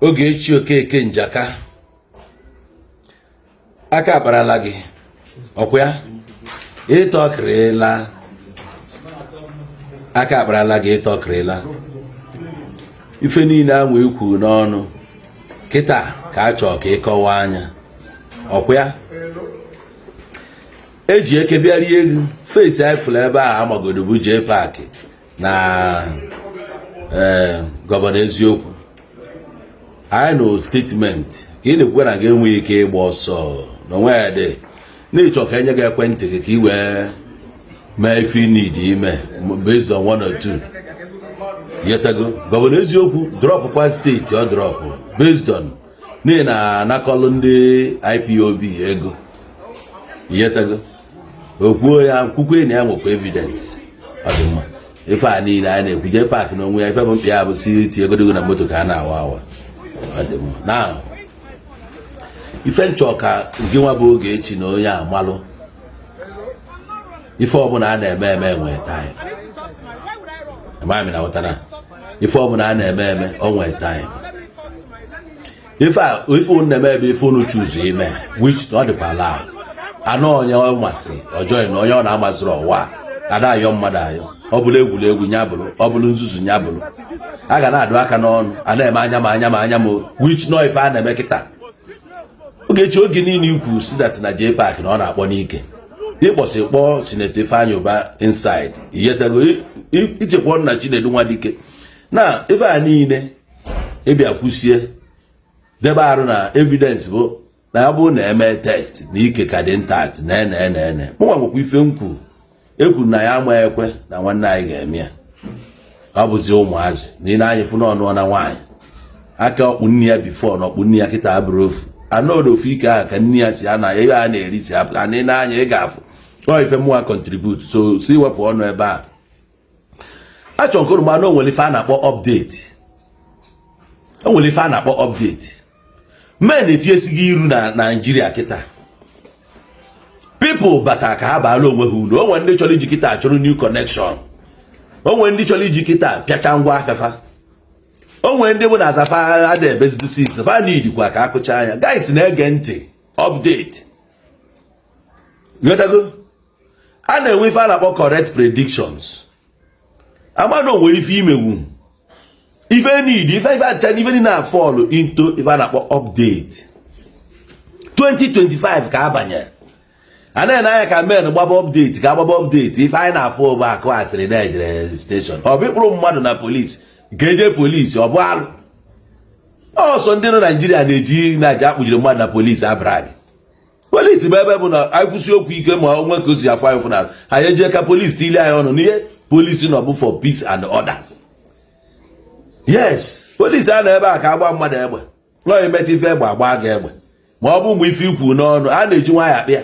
Ogechi Okeke Njaka aka akparala gị ọkwa ya ịtọkịrịla aka akparala gị ịtọkịrịla ife niile anwa ekwu n'ọnụ kịta ka a chọọ ka ị kọwa anya ọkwa ya eji eke bịa rie ego face anyị fụrụ ebe ahụ amagodo bụ Jpac na eh, Governor Eziokwu anyị nụ statement ka ị na-ekwukwa na gị enweghị ike ịgba ọsọ na onwe ya dị n'ịchọ ka enye gị ekwentị gị ka ị wee mee ife ị need ime based on one or two yetago Governor Eziokwu dropụkwa steeti ọ dropụ based on n'ihi na anakọlụ ndị IPOB ego iyetago o kwuo ya kwukwe na ya nwekwa evidence ọ dị mma ife a niile a na-ekwu Jpac n'onwe ya ife bụ mkpa ya bụ si tie egodigo na moto ka a na-awa awa ọ dị mma na ife nchọ ka gị nwa bụ Ogechi na onye amalụ ife ọbụla a na-eme eme nwee time amaghị m ma ị na-aghọta na ife ọbụla a na-eme eme o nwee time ife unu na-eme ebe ife unu choose ime which ọ dịkwa allowed anụ onye ọ masị ọjọọ na onye ọ na-amasịrị ọwa a da-ayọ mmadụ ayọ ọ bụrụ egwuregwu nya bụrụ ọ bụrụ nzuzu nya bụrụ a ga na-adụ aka n'ọnụ a na-eme anya ma anya ma anya ma which nọ ife a na-eme kịta Ogechi oge niile ị kwusị that na Jpac na ọ na-akpọ n'ike ị kpọsị kpọọ Senator Ifeanyi Uba inside iyetego ị chekwa na Chinedu Nwadike na ife a niile ị bịa kwusie debe arụ na evidence bụ na ya bụrụ na eme test na ike ka dị intact na ene ene ene mụnwa nwekwa ife m kwuru ekwu na ya ama ekwe na nwanne anyị ga-eme ya ọ bụzi ụmụazị na ị na-anya fụ n'ọnụ na nwaanyị aka ọkpụ nne ya before na ọkpụ nne ya kịta abụrụ ofu anọdụ ofu ike ahụ ka nne ya si ana ebe a na-eri si apụ ana ị na-anya ị ga-afụ ọ ife mụwa contribute so si wepụ ọnụ ebe a achọrọ m ka unu mara na o nwere ife a na-akpọ update o nwere ife a na-akpọ update men etinyesigo iru na Naịjirịa kịta people bata ka ha baara onwe ha uru o nwere ndị chọrọ iji kịta chụrụ new connection o nwere ndị chọrọ iji kịta pịacha ngwa afịa fa o nwere ndị bụ na azafa ada ebezidi since fa need kwa ka akụcha anya guys na-ege ntị update a na-enwe ife a na-akpọ correct predictions amana o nwere ife imewu ife need ife ife acha ife niile na fall into ife a na-akpọ update 2025 ka abanye a na-ene anya ka men gbaba update ka agbaba update ife anyị na-afụ bụ akụ asịrị na e jere station ọ bụ ịkpụrụ mmadụ na polisi nke eje polisi ọ bụ alụ ọ sọ ndị nọ naijiria na-eji na-eji akpụjiri mmadụ na polisi abroad polisi bụ ebe bụ na anyị kwusi okwu ike ma o nwee ka o si afụ anyị fụnara anyị e jee ka polisi tili anyị ọnụ n'ihe polisi nọ bụ for peace and order yes polisi a na ebe a ka agba mmadụ egbe no e meta ife egbe a gbaa gị egbe ma ọ bụ mgbe ife i kwu n'ọnụ a na-eji nwaanyị akpị ya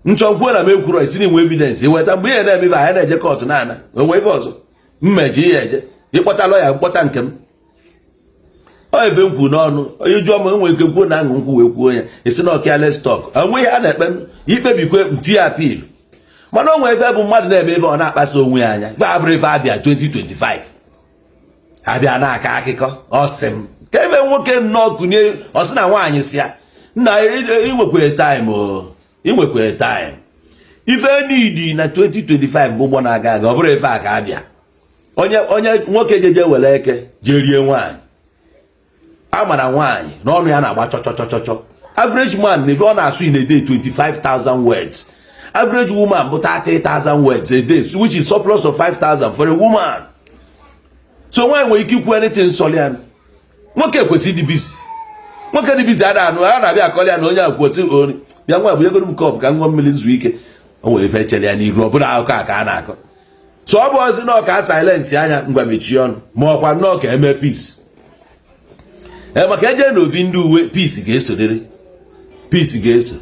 m chọọ kwuo na m ekwuro ị sị na i nwe evidence i weta mgbe ihe na-eme ife anyị na-eje court na-ana o nwe ife ọzọ mmeji ihe e je ị kpọta lawyer m kpọta nke m ọ ebe m kwuru n'ọnụ onye jụọ m enwere ike kwuo na aṅụ nkwụ wee kwuo ya e si na ọ careless talk enweghị ihe a na-ekpe i kpebikwe m tie appeal mana o nwere ife bụ mmadụ na-eme ebe ọ na-akpasa onwe ya anya gba abụrụ ife a bịa 2025 a bịa na-akọ akụkọ ọ sị m ka ebe nwoke nnọọ kụnye ọ sị na nwaanyị sị ya nna i nwekwere time i nwekwere time ife nidi na 2025 bụ ụgbọ na-aga aga ọ bụrọ ife a ka a bịa onye onye nwoke jeje were ike jee rie nwaanyị a mara nwaanyị na ọnụ ya na-agba chọchọchọchọchọ average man na ife ọ na-asụ in a day 25,000 words average woman bụ 30,000 words a day which is surplus of 5,000 for a woman so nwaanyị nwere ike ikwu anything sọrọ ya nwoke kwesịrị ịdị busy nwoke dị busy ada anọ a na-abịa akọrọ ya na onye akwụkwọ ori bịa nwa bụ egoro m cup ka m ṅụọ mmiri zuo ike o nwere ife chere ya n'iru ọ bụrọ akụkọ a ka a na-akọ so ọ bụ ozi nọọ ka a silence anya ngwa mechie ọnụ ma ọ kwa nnọọ ka e mee peace e, maka e je na obi ndị uwe peace ga-esodere peace ga-eso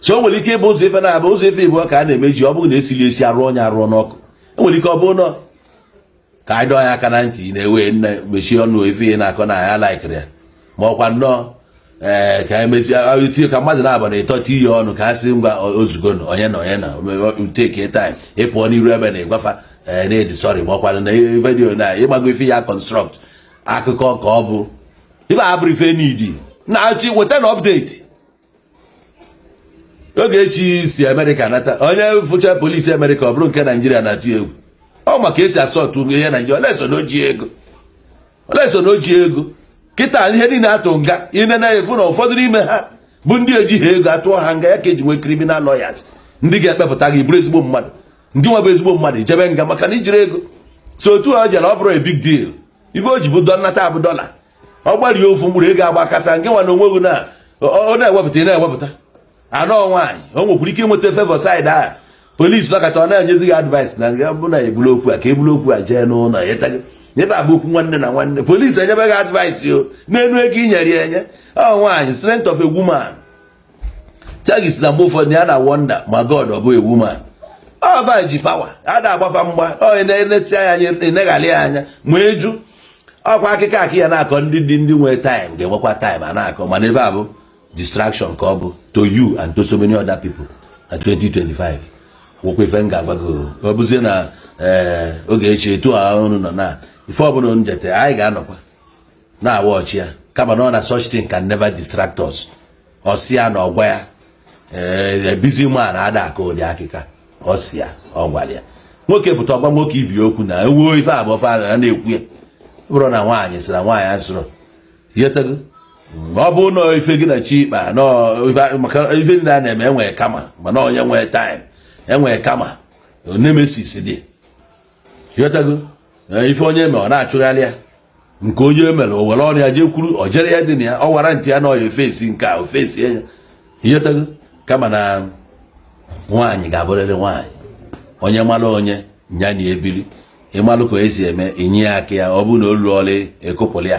so o nwere ike ịbụ ụzọ ife na-abụ ụzọ ife ịbụ ka a na-emeji ọ bụrụ na e siri esi arụ onye arụọ n'ọkụ enwere ike ọ bụrụ na ka anyị dọọ ya aka na ntị na-ewe nne mechie ọnụ ife ị na-akọ na ya likeiri ya ma ọ kwa nnọọ ee eh, ka anyị mezie tinye ka mmadụ na-aba na ịtọ tinye ọnụ ka a sị ngwa ozugbo na onye na onye na take time ị pụọ n'iru ebe na ị gwa fa ee eh, na ị dị sorry ma ọ kwa na video na ị gbago ife ya construct akụkọ ka ọ bụ ife abụrụ ife n'idi na-achị weta na update oge echi si amerịka nata onye fụcha polisi amerịka ọ bụrụ nke naijiria na-atụ egwu ọ ma ka e si asọtụ ugo ihe naijiria oleso na o ji ego oleso na o ji ego kịta ihe niile a tụ nga ine na efu na ụfọdụ n'ime ha bụ ndị ejighị ego a tụọ ha nga ya ka e ji nwee criminal lawyers ndị ga-ekpepụta gị bụrụ ezigbo mmadụ ndị nwa bụ ezigbo mmadụ ejebe nga maka na ejirọ ego so otu ọ jere ọ bụrụ a big deal ife o ji bụ dọ nnata abụ dọla ọ gbarie ofu mkpụrụ ego agba kasa nke nwa na onwe gị na ọ na-ewepụta ị na-ewepụta anọ nwaanyị o nwekwara ike ịnweta favour side a police nọkata ọ na-enyezi gị advice na nga bụ na ebulu okwu a ka ebulu okwu a jee n'ụlọ ebe a bụ okwu nwanne na nwanne police enyebe gị advice o n'elu ego i nyere ya enye ọ nwaanyị strength of a woman Shaggy sị na mgbe ụfọdụ ya na wonder ma God ọ bụ a woman ọ va ji power a na-agbafa mgba onye na-eneti anya eneghalị ya anya ma eju ọ kwa akịkọ ka ya na-akọ ndị dị ndị nwere time ga-enwekwa time a na-akọ mana ebe a bụ distraction ka ọ bụ to you and to so many other people na 2025 nwekwa ife m ga-agwa gị ọ bụzie na eh, oge echi etu a ọnụ nọ na ife ọbụla njete anyị ga-anọkwa na-awatch ya kama na ọ na such thing can never distract us ọ sị ya na ọ gwa ya eh, eh, busy man ada akọ ụdị akịkọ a ọ sị ya ọ gwara ya nwoke pụta ọ gwa nwoke ibe okwu na ewuo ife abụọ fa na-ekwu ya bụrụ na nwaanyị sịrị nwaanyị asịrị ịghọtago ọ bụ na ife gị na chi ikpa maka ife ndị a na-eme enwee karma mana onye nwee time enwee karma nemesis dị ịghọtago ife onye eme ọ na-achụgharị ya nke onye emere o were ọnụ ya jee kwuru o jere ya dị na ya ọ wara ntị ya na ọya ofesi nke a ofesi ya ịghọtago kama na nwaanyị ga-abụrịrị nwaanyị onye mara onye nya na ebiri ịmalụ ka esi eme inye ya aka ya ọ bụrụ na o luola ekupụrụ ya